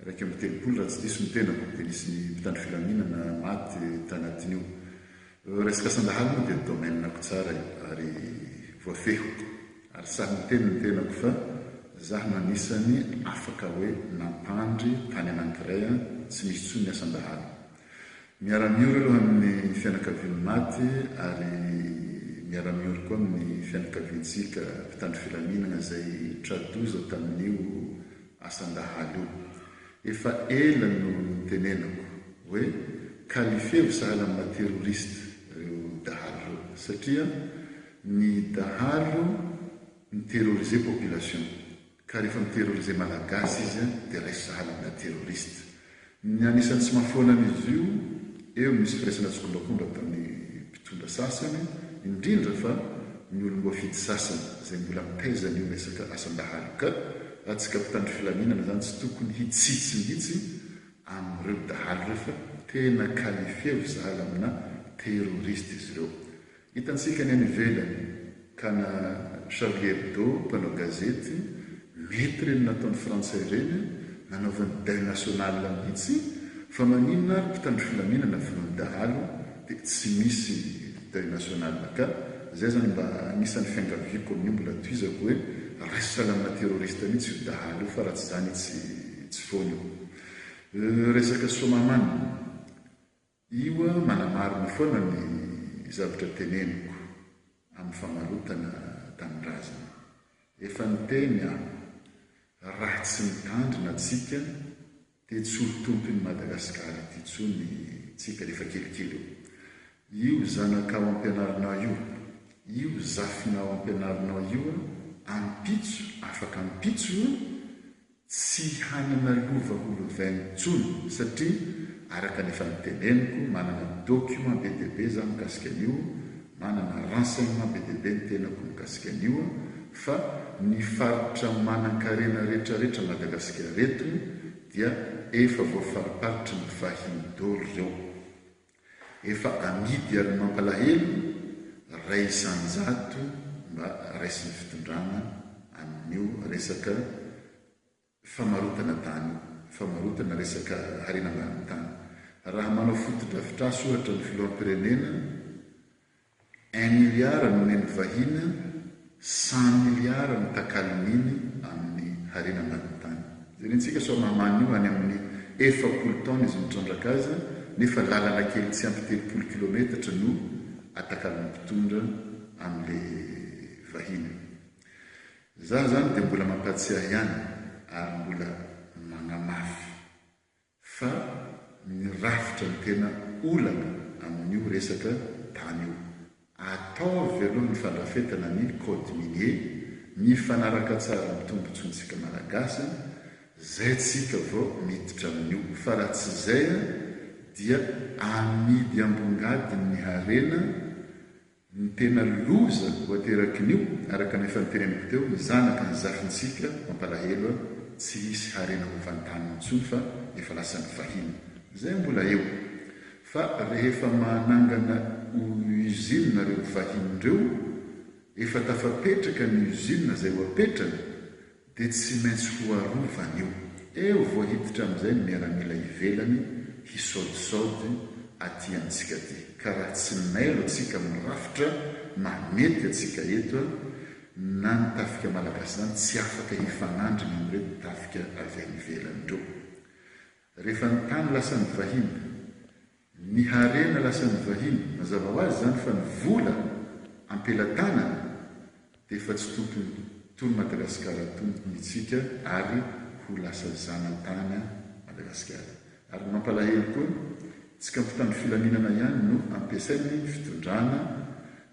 iraika amby telopolo raha tsy diso ny tenako, dia nisy ny mpitandro filaminana maty tanatin'io. Resaka sandahalo moa dia domaine-ko tsara io ary voafehiko ary sahy miteny ny tenako fa zah no anisany afaka hoe nampandry tany anankiray an, tsy misy tsony ny asan-dahalo. Miara-miory aloha amin'ny fianakavian'ny maty ary miara-miory koa amin'ny fianakaviantsika mpitandro filaminana izay tra-doza tamin'io Asan-dahalo io. Efa ela no nitenenako hoe kalifeo sahala amina terroriste reo dahalo reo satria ny dahalo mi-terroriser population ka refa mi-terroriser malagasy izy dia raisy sahala amina terroriste Ny anisan'ny tsy mahafoana an'izy io, eo misy firaisana tsikombakomba ataon'ny mpitondra sasany, indrindra fa ny olom-boafidy sasany, izay mbola mitaiza an'io resaka asam-bahalo ka, raha tsika mpitandro filaminana izany tsy tokony hitsitsy mihitsy amin'ireo dahalo refa tena qualifier vo zala amina terroriste izy ireo. Hitantsika ny any ivelany ka na Charlie Hebdo mpanao gazety mety ireny nataon'ny frantsay ireny nanaovany deuil national mihitsy fa maninona ary mpitandro filaminana vonoin'ny dahalo dia tsy misy deuil national ka zay zany mba anisan'ny fiangaviako amin'io mbola tohizako hoe raisy salamina terroriste mihitsy io dahalo io fa raha tsy zany tsy tsy foana io resaka soamaman Io aho manamarina foana ny zavatra teneniko amin'ny famarotana tanindrazana. Efa niteny aho, raha tsy mitandrina tsika dia tsy ho tompon'i Madagasikara ity tsony tsika rehefa kelikely eo. Io zanakao ampianarinao io, io zafinao ampianarinao io ampitso afaka ampitso io Tsy hanana lova ho lovainy intsony satria araka ny efa niteneniko manana document be dia be za mikasika an'io, manana renseignement be dia be ny tenako mikasika an'io fa ny faritra manankarena retraretra Madagasikara eto dia efa voafariparitry ny vahiny dolo reo. Efa amidy ary mampalahelo ray isanjato mba raisin'ny fitondrana amin'io resaka famarotana tany io, famarotana resaka harena ambanin'ny tany. Raha manao fotodrafitrasa ohatra ny filoham-pirenena Un milliard no nen'ny vahiny, cent milliard no takalon'iny amin'ny harena ambanin'ny tany. Jerentsika sao mamany io any amin'ny efapolo taona izy mitrandraka azy nefa lalana kely tsy ampy telopolo kilometatra no atakalon'ny mpitondra an'le vahiny. Za zany dia mbola mampatsiahy ihany ary mbola magnamafy Fa ny rafitra no tena olana amin'io resaka tany io. Ataovy aloha ny fandrafetana ny code minier mifanaraka tsara amin'ny tombotsoantsika Malagasy zay tsika vao miditra amin'io fa raha tsy izay dia amidy ambongadiny ny harena Ny tena loza ho aterakin'io, araka ny efa noteneniko teo, ny zanaka ny zafintsika, mampalahelo a, tsy hisy harena hovantaniny intsony fa efa lasan'ny vahiny. Izay mbola eo. Fa rehefa manangana usine reo vahiny reo, efa tafapetraka ny usine zay ho apetrany, Dia tsy maintsy ho arovana io. Eo vao hiditra amin'izay ny miaramila ivelany hisaodisaody aty amintsika aty. Ka raha tsy mailo antsika amin'ny rafitra mahamety antsika eto an, na ny tafika malagasy izany tsy afaka hifanandrina amin'ireto tafika avy any ivelany ireo. Rehefa ny tany lasan'ny vahiny Ny harena lasan'ny vahiny, mazava ho azy izany fa ny vola am-pelatanany dia efa tsy tompony tony Madagasikara tony hitsika ary ho lasa zanatany Madagasikara. Ary ny mampalahelo koa, tsika mpitandro filaminana ihany no ampiasain'ny fitondrana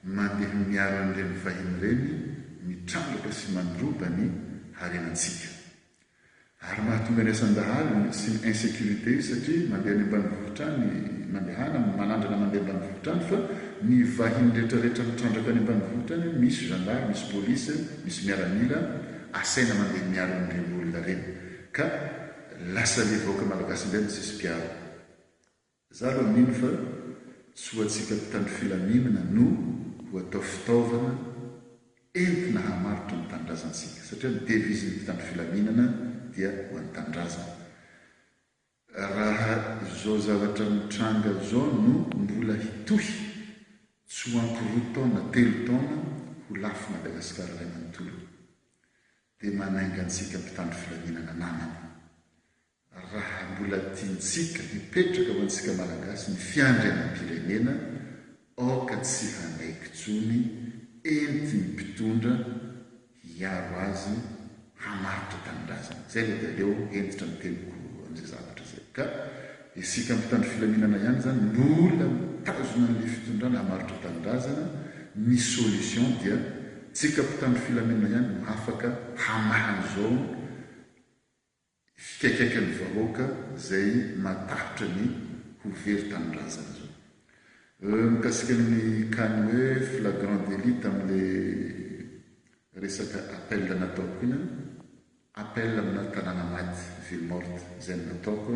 mandeha miaro an'ireny vahiny ireny mitrandraka sy mandroba ny harenantsika. Ary mahatonga ny asan-dahalo sy ny insecurite satria mandeha any ambanivohitra any mandehana manandrana mandeha ambanivohitra any fa ny vahiny retraretra mitrandraka any ambanivohitra any misy zandary misy police misy miaramila asaina mandeha miaro an'ireny olona reny ka lasa le vahoaka malagasy indray no tsisy mpiaro Za aloha mino fa tsy ho antsika mpitandro filaminana no ho atao fitaovana entina hamaritra ny tanindrazantsika satria ny devise ny mpitandro filaminana dia ho an'ny tanindrazana. Raha izao zavatra mitranga izao no mbola hitohy, tsy ho ampy roa taona telo taona ho lafo Madagascar iray manontolo. Dia manainga antsika mpitandro filaminana namana. Raha mbola tiantsika hipetraka ho antsika Malagasy ny fiandrianam-pirenena, aoka tsy hanaiky intsony, entin'ny mpitondra hiaro azy, hamaritra tanindrazana. Izay ilay dia aleo hentitra ny teniko amin'izay zavatra izay. Ka isika mpitandro filaminana ihany izany mbola mitazona an'ilay fitondrana hamaritra tanindrazana, ny solution dia tsika mpitandro filaminana ihany no afaka hamaha ny zone, fikaikaikan'ny vahoaka izay matahotra ny ho very tanindrazana izao. Mikasika ny cas ny hoe flagrant délit tamin'ilay resaka appel nataoko iny an, appel amina tanàna maty, ville morte, izay no nataoko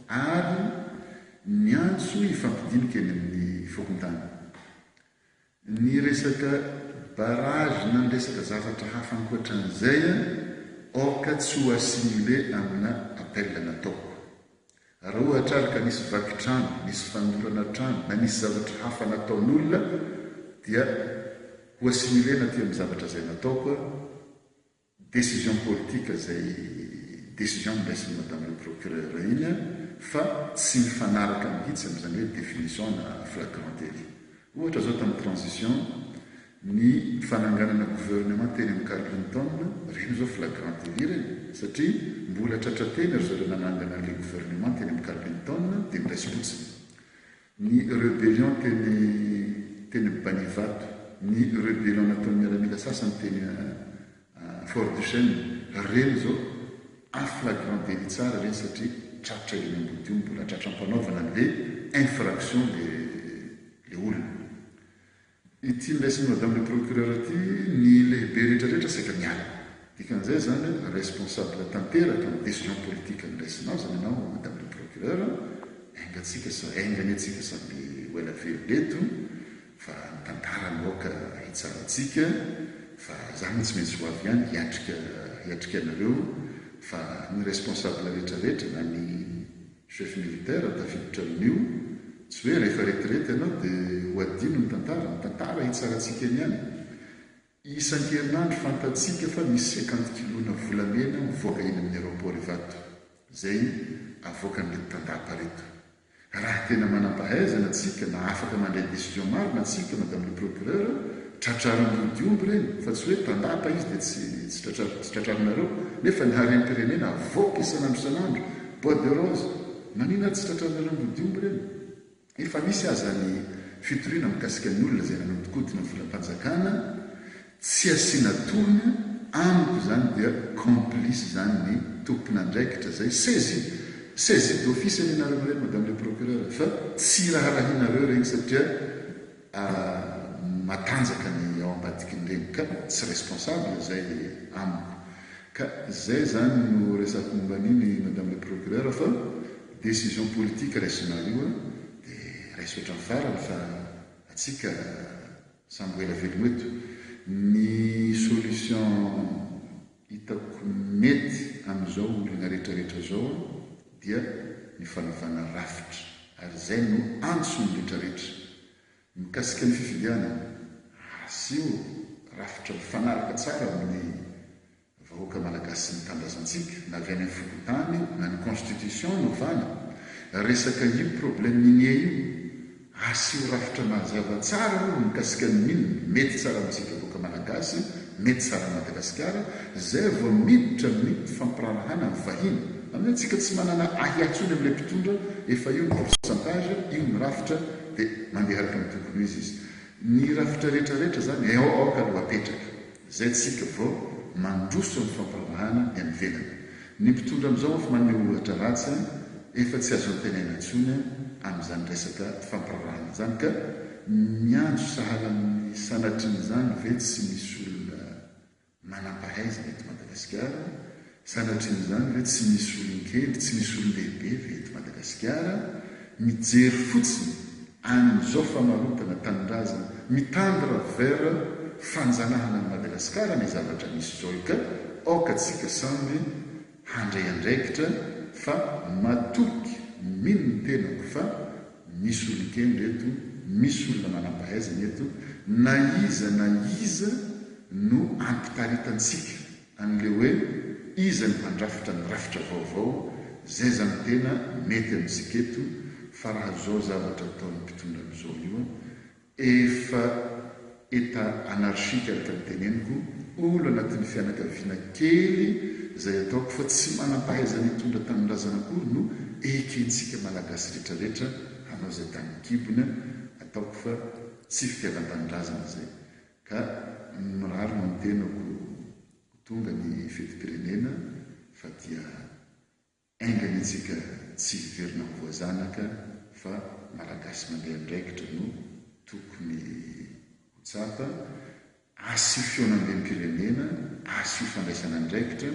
ary niantso hifampidinika eny amin'ny fokontany. Ny resaka barrage na ny resaka zavatra hafa ankoatran'izay aoka tsy ho assimilé amina appel nataoko. Raha ohatra ary ka nisy vaky trano, nisy fanolorana trano na nisy zavatra hafa nataon'olona dia ho assimilé-na aty amin'ny zavatra izay nataoko aho. Décision politique izay décision noraisin'i Madame le Procureur iny an, fa tsy mifanaraka mihitsy amin'izany hoe définition ana flagrant délit. Ohatra izao tamin'ny transition ny fananganana gouvernement teny amin'i Carlington, ireny izao flagrant délit ireny satria mbola tratrateny ry zareo nanangana an'ilay gouvernement teny amin'i Carlington dia noraisim-potsiny. Ny rebellion teny teny Banivato, ny rebellion nataon'ny miaramila sasany teny Fort Duchesne, ireny izao en flagrant délit tsara ireny satria tratra eny Ambodiomby, mbola tratram-panaovana an'ilay infraction ilay ilay olona. Ity niraisin'i Madame le Procureur ity, ny lehibe rehetra rehetra saika miala. Dikan'izay izany hoe responsable tanteraka amin'ny decision politique noraisinao izany ianao Madame le Procureur, enga tsika sa enga anie tsika samby ho ela velona eto fa ny tantara no aoka hitsarantsika fa izany no tsy maintsy ho avy ihany hiatrika hiatrika anareo fa ny responsable rehetra rehetra na ny Chef militaire tafiditra amin'io, tsy hoe rehefa retirety ianao dia ho hadino ny tantara, ny tantara hitsarantsika eny ihany. Isan-kerinandro fantatsika fa misy cinquante kilona volamena mivoaka eny amin'ny aeroport Ivato, izay avoakan'ireto tandapa ireto. Raha tena manam-pahaizana tsika na afaka mandray decision marina tsika madame le procureur, tratrariny roa dia omby ireny, fa tsy hoe tandapa izy dia tsy tratrarinareo, nefa ny harem-pirenena avoaka isan'andro isan'andro Bois de rose, Nanina tsy tratranareo mody omby reny? Efa nisy aza ny fitoriana mikasika ny olona izay nanodikodina volam-panjakana tsy asiana tolona, amiko izany dia complice izany ny tompon'andraikitra izay saisie, saisie d'office anie nareo mireny madame le procureur fa tsy iraharahianareo ireny satria matanjaka ny ao ambadikin'ireny ka tsy responsable izay amiko. Ka izay izany no resako momba an'iny Madame le Procureur fa décision politique raisinao io dia raiso hatramin'ny farany fa atsika samy ho ela velona eto. Ny solution. hitako mety amin'izao olana rehetra rehetra izao dia ny fanavana rafitra ary izay no antso ny rehetra rehetra mikasika ny fifidianana hasio rafitra mifanaraka tsara amin'ny vahoaka malagasy sy ny tanindrazantsika na avy any amin'ny fokontany na ny constitution novana resaka io problème minier io Asio rafitra mazava tsara aloha ny mikasika ny milina, mety tsara amintsika vahoaka Malagasy, mety tsara amin'i Madagasikara, izay vao miditra amin'ny fifampiraharahana ny vahiny. Aminay tsika tsy manana ahiahy intsony amin'ilay mpitondra, efa io ny pourcentage, io ny rafitra dia mandeha araka ny tokony ho izy izy. Ny rafitra rehetra rehetra izany aoka aloha apetraka. Izay tsika vao mandroso ny fampanarahana ny any ivelany. Ny mpitondra amin'izao efa manome ohatra ratsy an, efa tsy azo antenaina intsony an amin'izany resaka fampararahana izany ka miantso sahala amin'ny sanatrin'izany ve tsy misy olona manampahaizana eto Madagasikara Sanatria izany ve tsy misy olon-kely, tsy misy olon-dehibe ve eto Madagasikara mijery fotsiny an'izao famarotana tanindrazana mitandra vers fanjanahana an'i Madagasikara ny zavatra misy izao io ka aoka tsika samby handray andraikitra fa matoky mino ny tenako fa misy olon-kendry eto, misy olona manampahaizana eto na iza na iza no ampitaritantsika. an'ilay hoe iza no handrafitra ny rafitra vaovao, zay zany tena mety amintsika eto fa raha zao zavatra ataon'ny mpitondra amzao io efa etat anarchique araka ny teneniko, olo anatin'ny fianakaviana kely zay ataoko fa tsy manampahaizana hitondra tanindrazana akory no ekentsika malagasy retraretra hanao zay tany an-kibony, ataoko fa tsy fitiavan-tanindrazana zay Ka mirary ny tenako ho tonga ny fetim-pirenena fa dia enga anie tsika tsy hiverina ho voazanaka fa Malagasy mandeha andraikitra no tokony ho tsapa, asio fihaonambem-pirenena, asio fandraisana andraikitra,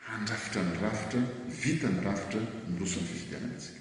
handrafitra ny rafitra, vita ny rafitra, miroso amin'ny fifidianana isika.